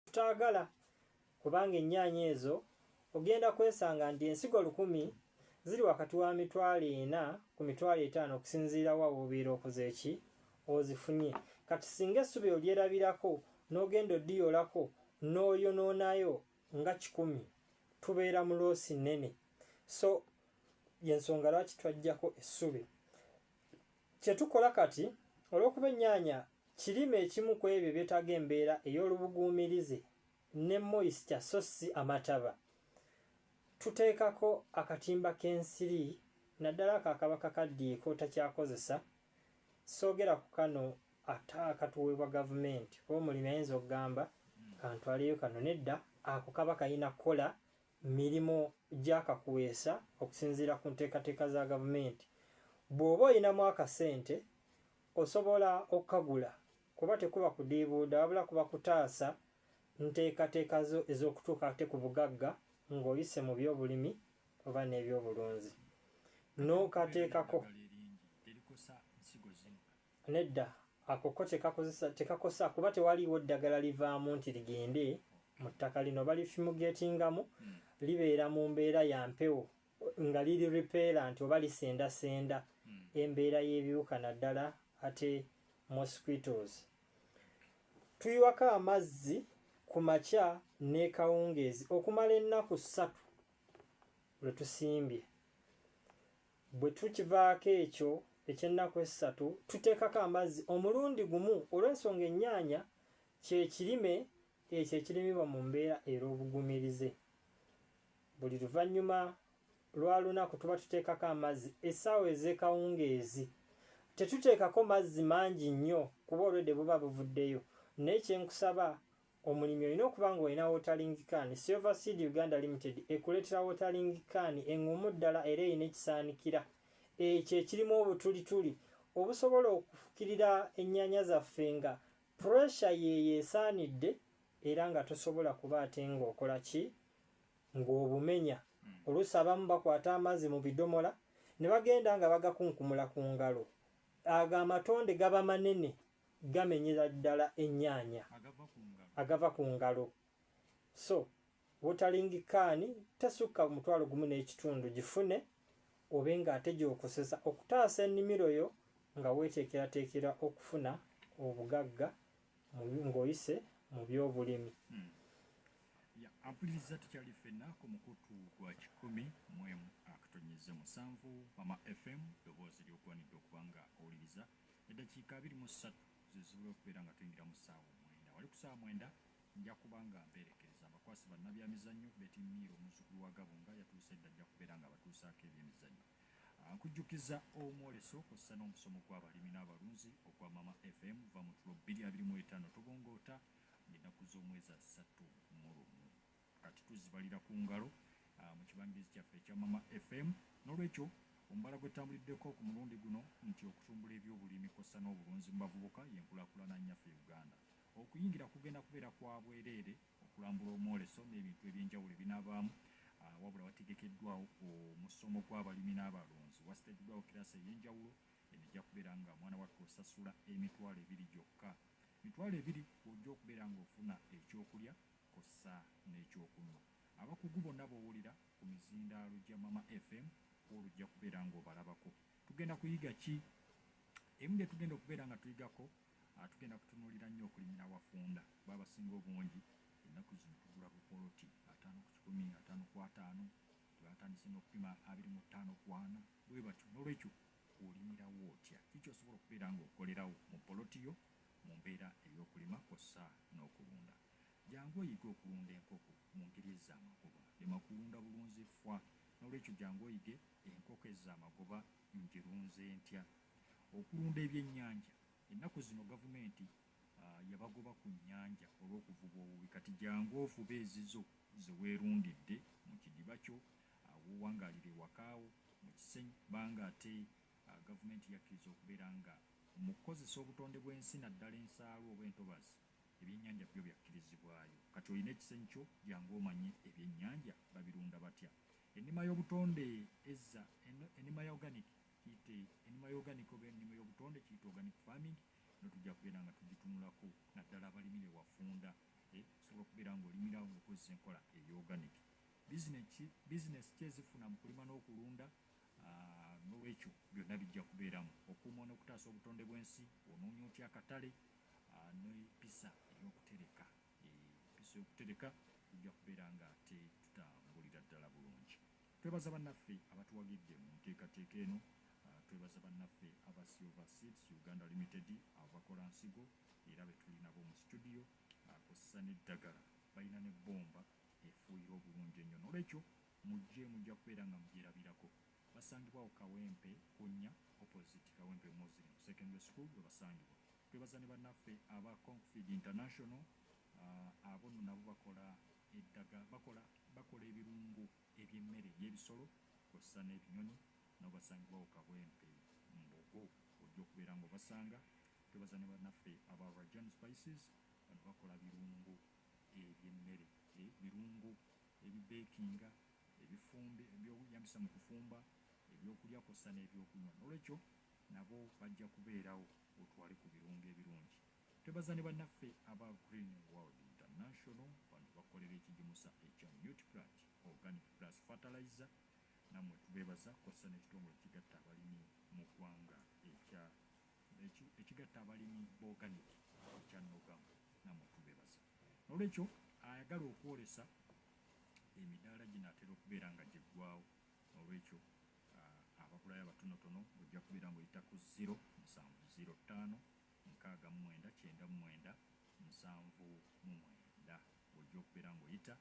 Tutaagala kubanga ennyaanya ezo ogenda kwesanga nti ensigo lukumi ziri wakati wa mitwalo ena ku mitwalo etaano okusinziira wa w'obeera okoze ki ozifunye. Kati singa essubi olyerabirako n'ogenda odiyolako n'oyonoonayo nga kikumi tubeera mu loosi nnene. So y'ensonga lwaki twaggyako essubi. Kye tukola kati, olw'okuba ennyaanya kirime ekimu ku ebyo ebyetaaga embeera ey'olubuguumirize ne moisture so si amataba, tuteekako akatimba k'ensiri naddala ako akaba kakaddiye k'otakyakozesa, soogera ku kano ate akatuweebwa gavumenti kuba omulimi ayinza okugamba kantwaleyo kano nedda ako kaba kalina kukola mirimu gya kakuweesa okusinziira ku nteekateeka za gavumenti. Bw'oba olinamu akasente osobola okukagula kuba tekuba kudiibuuda wabula kuba kutaasa nteekateeka zo ez'okutuuka ate ku bugagga ng'oyise mu byobulimi oba n'ebyobulunzi. N'okateekako. Nedda, ako ko tekakozesa tekakosa kuba tewaliiwo ddagala livaamu nti ligende mu ttaka lino balifimugetingamu hmm. libeera mu mbeera ya mpewo nga liri repellent oba lisendasenda hmm. embeera y'ebiwuka naddala ate mosquitoes tuyiwako amazzi ku makya n'ekawungeezi okumala ennaku ssatu lwe tusimbye Bwe tukivaako ekyo eky'ennaku essatu, tuteekako amazzi omulundi gumu olw'ensonga ennyaanya kye kirime ekyo ekirimibwa mu mbeera er'obugumirize. Buli luvannyuma lwa lunaku tuba tuteekako amazzi essaawa ez'ekawungeezi. Tetuteekako mazzi mangi nnyo kuba olwedde buba buvuddeyo naye kye nkusaba Omulimi olina okuba ng'olina watering can. Silver Seed Uganda Limited ekuleetera watering can eng'umu ddala era erina ekisaanikira ekyo ekirimu obutulituli obusobola okufukirira ennyaanya zaffe nga puresha yeeyo esaanidde era nga tosobola kuba ate ng'okola ki ng'obumenya hmm. oluusi abamu bakwata amazzi mu bidomola ne bagenda nga bagakunkumula ku ngalo ago amatonde gaba manene gamenyera ddala ennyaanya agava ku ngalo so wotalingi kaani tesukka omutwalo gumu n'ekitundu gifune obe ng'ate gy'okozesa okutaasa ennimiro yo nga weeteekerateekera okufuna obugagga ng'oyise mu by'obulimi. Hmm. Ampuliriza tukyali ffenna ku mukutu gwa kikumi mu emu akatonyeze musanvu mama fm ddoboozi ly'ogwanidde okuba nga owuliriza. Eddakiika abiri mu ssatu ze zibula okubeera nga tuyingira mu ssaawa omwenda. Wali ku ssaawa mwenda nja kuba nga mpeerekereza abakwasi bannabyamizannyo. Betty Miiro omuzzukulu wa Gabunga yatuuse dda ajja kubeera ng'abatuusaako ebyemizannyo. Ah, nkujjukiza omwoleso kw'ossa n'omusomo gw'abalimi n'abalunzi ogwa Mama FM vva mu tulo bbiri abiri mu etaano tobongoota ng'ennaku z'omwezi asatu mu lumu. Kati tuzibalira ku ngalo ah, mu kibangirizi kyaffe ekya Mama FM. N'olwekyo omubala gwe tutambuliddeko ku mulundi guno nti okutumbula ebyobulimi kw'ossa n'obulunzi mu bavubuka y'enkulaakulana nnyaffe e Uganda. Okuyingira kugenda kubeera kwa bwereere, okulambula omwoleso n'ebintu eby'enjawulo ebinaabaamu ah, wabula wategekeddwawo omusomo gw'abalimi n'abalunzi. Wasiteekeddwawo kiraasi ey'enjawulo, eno ejja kubeera nga mwana wattu osasula emitwalo ebiri gyokka. Mitwalo ebiri kw'ojja okubeera ng'ofuna ekyokulya kwossa n'ekyokunywa. Abakugu bonna b'owulira ku mizindaalo gya Mama FM kw'olwo ojja kubeera ng'obalabako. Tugenda kuyiga ki? Ebimu bye tugenda okubeera nga tuyigako, tugenda kutunuulira nnyo okulimira awafunda kuba abasinga obungi ennaku zino tugula bupoloti ataano ku kikumi, ataano ku ataano, tebatandise n'okupima abiri mu ttaano ku ana bwe batyo. Noolwekyo olimirawo otya? Ki ky'osobola okubeera ng'okolerawo mu poloti yo mu mbeera ey'okulima kwossa n'okulunda? Jangu oyige okulunda enkoko mu ngeri ezza amagoba. Lema kulunda bulunzi ffwa. N'olwekyo jangu oyige enkoko ezza amagoba njirunze ntya. Okulunda ebyennyanja. Ennaku zino gavumenti yabagoba ku nnyanja olw'okuvuba obubi kati jangu ovube ezizo ze weerundidde mu kidiba kyo w'owangaalira ewaka wo mu kiseny banga ate gavumenti yakkiriza okubeera nga mu kukozesa obutonde bw'ensi naddala ensaalwa oba entobazi Ebyenyanja byo byakkirizibwayo. Kati olina ekisenyi kyo jangu omanye ebyenyanja babirunda batya. Ennima y'obutonde ezza ennima ya organic kiyite ennima ya organic oba ennima y'obutonde kiyite organic farming no tujja kubeera nga tugitunulako naddala abalimi be wafunda eh, osobola okubeera nga olimirawo nga okozesa enkola eya organic. Bizinesi ki ezifuna mu kulima n'okulunda ah, n'olwekyo byonna bijja kubeeramu. Okuuma n'okutaasa obutonde bw'ensi, onoonya otya akatale, n'empisa ey'okutereka empisa y'okutereka tujja kubeera nga ate tutambulira ddala bulungi twebaza bannaffe abatuwagidde mu nteekateeka eno twebaza bannaffe aba silver seeds uganda limited abakola nsigo era betulinabo mu situdiyo akozesa n'eddagala balina ne bbomba efuuyira obulungi ennyo nolwekyo mujje mujja kubeera nga mujerabirako Basangibwa ku Kawempe Kunya opposite Kawempe Muslim Secondary School webasangibwa. Twebaza ne banaffe aba Concfeed International abo nno nabo bakola eddaga bakola bakola ebirungo eby'emmere ey'ebisolo kwossa n'ebinyonyi nabo basangibwa ku Kawempe Mbogo ojja okubeera nga obasanga. Twebaza ne banaffe aba Rajan Spices bano bakola birungo eby'emmere e birungo ebibekinga ebifumbe, eby'okweyambisa mu kufumba, eby'okulya kw'ossa n'ebyokunywa n'olwekyo nabo bajja kubeerawo otwale ku birungo ebirungi. Twebaza ne bannaffe aba Green World International bano bakolera ekigimusa ekya Nutriplant Organic Plus Fertilizer nammwe tubeebaza kw'ossa n'ekitongole ekigatta abalimi mu ggwanga ekya ekigatta abalimi b'oganik ekya Nogam nammwe tubeebaza. N'olwekyo ayagala okwolesa Emidaala ginaatera okubeera nga giggwaawo n'olwekyo abagulayo abatonotono ojja kubeera ng'oyita ku ziro musanvu ziro ttaano nkaaga mu mwenda kyenda mu mwenda nsanvu mu mwenda ojja okubeera ng'oyita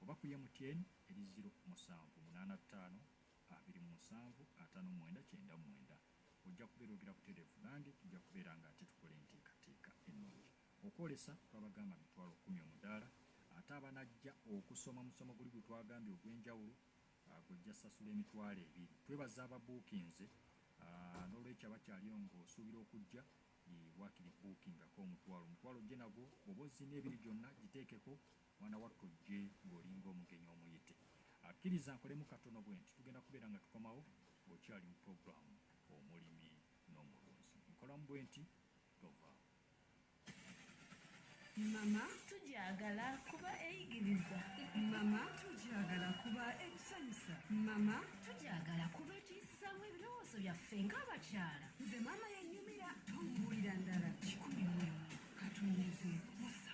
oba ku MTN eri ziro musanvu munaana ttaano abiri mu musanvu ataano mu mwenda kyenda mu mwenda ojja kubeera ogera butereevu nange tujja kubeera ng'ate tukola enteekateeka ennungi. Okwolesa twabagamba mitwalo kkumi omudaala ate abanajja okusoma musomo guli gwetwagambye ogwenjawulo gwojja sasula emitwalo ebiri. Twebaza ababuukinze nolwekyo abakyaliyo nga osuubira okujja wakiri buukingako omutwalo omutwalo ojje nagwo bwoba ozina ebiri gyonna giteekeko mwana wattu ojje ng'olinga omugenyi omuyite. Akkiriza nkolemu katono bwenti tugenda kubeera nga tukomawo ng'okyali mu pulogulaamu omulimi n'omulunzi. Nkolamu bwenti mama tugyagala kuba eyigiriza mama tugyagala kuba ekusanyusa mama tugyagala kuba ekiyisizaamu ebirowoozo byaffe ng'abakyala nze maama yenyumira tomubuulira ndala kikumi mwemu katonyeze musa